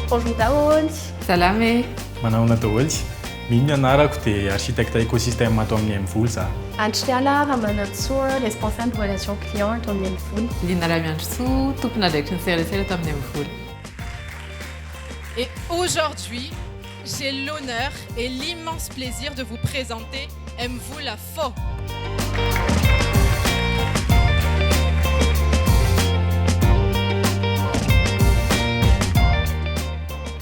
Bonjour daholo. Salama e. Manahoana daholo. Mino ny anarako dia architecte écosystème ato amin'ny Mvoly za. Andriala Ramanantsoa, responsable relation client ato amin'ny Mvoly. Lina Ramiandrisoa, tompon'andraikitry ny serasera ato amin'ny Mvoly. Et aujourd'hui, J'ai l'honneur et l'immense plaisir de vous présenter Aime-vous la fo.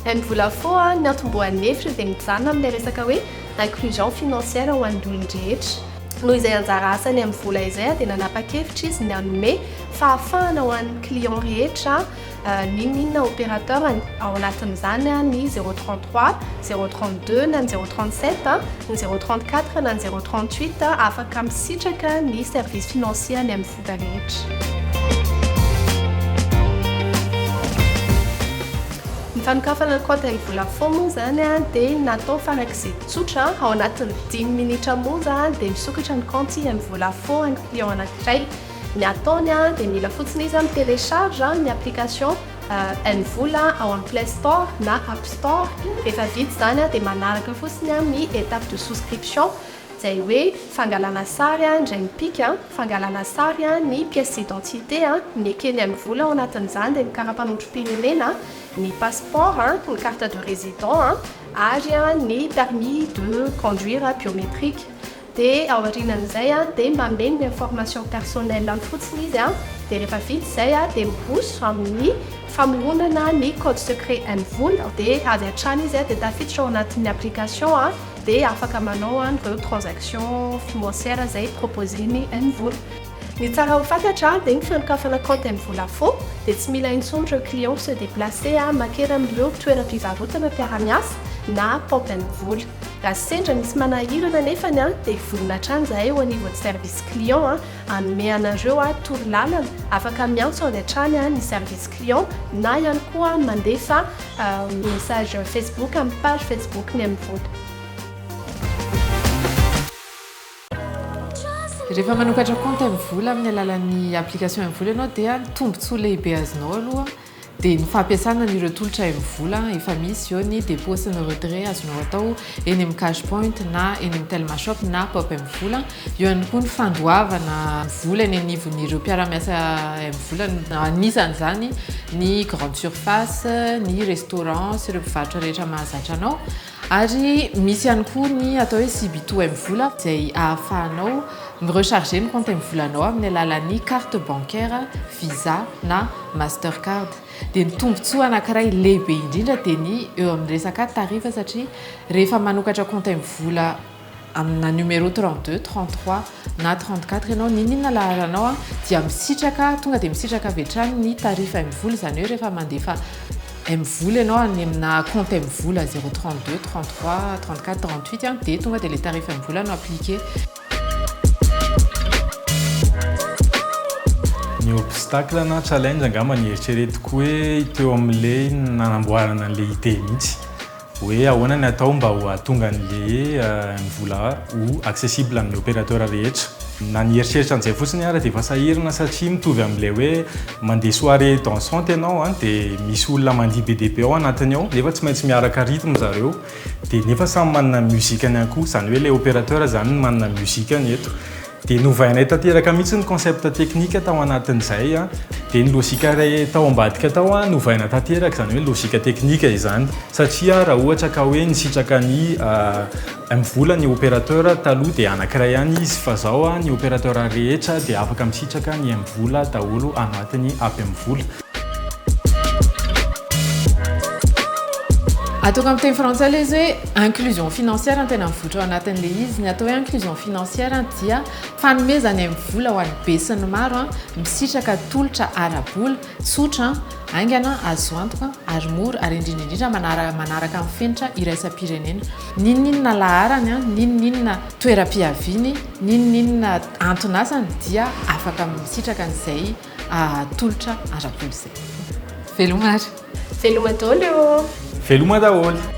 Aime-vous la fo a, ny antombohan'ny hevitra dia mijanona amin'ilay resaka hoe inclusion financière ho an'ny olon-drehetra. Noho izay anjara asan'ny Aime-vous la izay dia nanapa-kevitra izy ny hanome fahafahana ho an'ny clients rehetra n'inon'inona opérateur-ny, ao anatin'izany ny zéro trente trois, zéro trente deux na ny zéro trente sept, ny zéro trente quatre na ny zéro trente huit, afaka misitraka ny service financier any amin'ny sida rehetra. Ny fanokafana ny kaontin'ny Vodafone moa izany dia natao farak'izay tsotra, ao anatin'ny dimy minitra monja dia misokatra ny kaonty amin'ny Vodafone client anankiray. Ny ataony dia mila fotsiny izy mi telecharge ny application N vola ao amin'ny play store na app store, rehefa vita izany dia manaraka fotsiny ny étape de souscription izay hoe fangalana sary indray mipika fangalana sary ny pièce d'identité ny ekeny N vola ao anatin'izany dia ny karapanondrom-pirenena, ny passeport, ny carte de résident ary ny permis de conduire biométrique. Dia aorianan'izay dia mamehy ny information personnel-ny fotsiny izy dia rehefa vita izay dia miroso amin'ny famoronana ny code secret MVOL dia avy hatrany izy dia tafiditra ao anatin'ny application dia afaka manao an'ireo transaction financière izay proposer-ny MVOL. Ny tsara ho fantatra dia ny fanokafana compte mVolafo dia tsy mila intsony ireo clients mi se deplacer a makera amin'ireo toeram-pivarotana mpiara-miasa na compte mvola. Raha sendra misy manahirana anefany a dia vonona hatrany izahay eo anivon'ny service client a hanome anareo a toro lalana afaka miantso avy hatrany a ny service client na ihany koa mandefa a message facebook amin'ny page facebook ny mvola. Rehefa manokatra compte M-vola amin'ny alalan'ny application M-vola ianao dia ny tombontsoa lehibe azonao aloha dia ny fampiasana an'ireo tolotra M-vola efa misy eo ny dépôt sy ny retrait azonao atao eny amin'ny cash point na eny amin'ny telma shop na pop M-vola eo ihany koa ny fandoavana vola eny anivon'ireo mpiara-miasa M-vola anisan'izany ny grande surface ny restaurant sy ireo mpivarotra rehetra mahazatra anao Ary misy ihany koa ny atao hoe Sibito M-vola izay ahafahanao mi-recharger ny kaonty M-volanao amin'ny alalan'ny carte bancaire Visa na Mastercard. Dia ny tombontsoa anankiray lehibe indrindra dia ny eo amin'ny resaka tarifa satria rehefa manokatra kaonty M-vola amina numéro 32, 33 na 34 ianao n'inon'inona laharanao dia misitraka tonga dia misitraka avy hatrany ny tarif M-vola izany hoe rehefa mandefa M-vola ianao any amina compte M-vola 032, 33, 34, 38 dia tonga dia ilay tarif M-vola no appliqué. obstacle na challenge angamba ny eritreretiko hoe teo amin'ilay nanamboarana an'ilay idée mihitsy Hoe ahoana ny atao mba ho ahatonga ny le ny vola ho accessible amin'ny opérateur rehetra. Na ny eritreritra an'izay fotsiny ara dia efa sahirana satria mitovy amin'ilay hoe mandeha soirée dansante ianao an dia misy olona mandihy be dia be ao anatiny ao nefa tsy maintsy miaraka rythme zareo dia nefa samy manana ny musique-ny ihany koa izany hoe ilay opérateur izany no manana ny musique-ny eto. Dia novainay tanteraka mihitsy ny concept technique tao anatin'izay, dia ny logique iray tao ambadika tao novaina tanteraka, izany hoe logique technique izany. Satria raha ohatra ka hoe nisitraka ny mvola ny opérateur taloha dia anankiray ihany izy, fa izao ny opérateur rehetra dia afaka misitraka ny mvola daholo anatin'ny app mvola. Ataoko amin'ny teny frantsay ilay izy hoe inclusion financière no tena mivoitra ao anatin'ilay izy. Ny atao hoe inclusion financière dia fanomezana amin'ny vola ho an'ny be sy ny maro misitraka tolotra ara-bola tsotra, haingana, azo antoka ary mora ary indrindra indrindra manaraka manaraka ny fenitra iraisam-pirenena. N'inon'inona laharany, n'inon'inona toeram-piaviany, n'inon'inona anton'asany dia afaka misitraka an'izay. tolotra ara-kolontsaina. Veloma ary. Veloma daholo ô! Veloma daholo!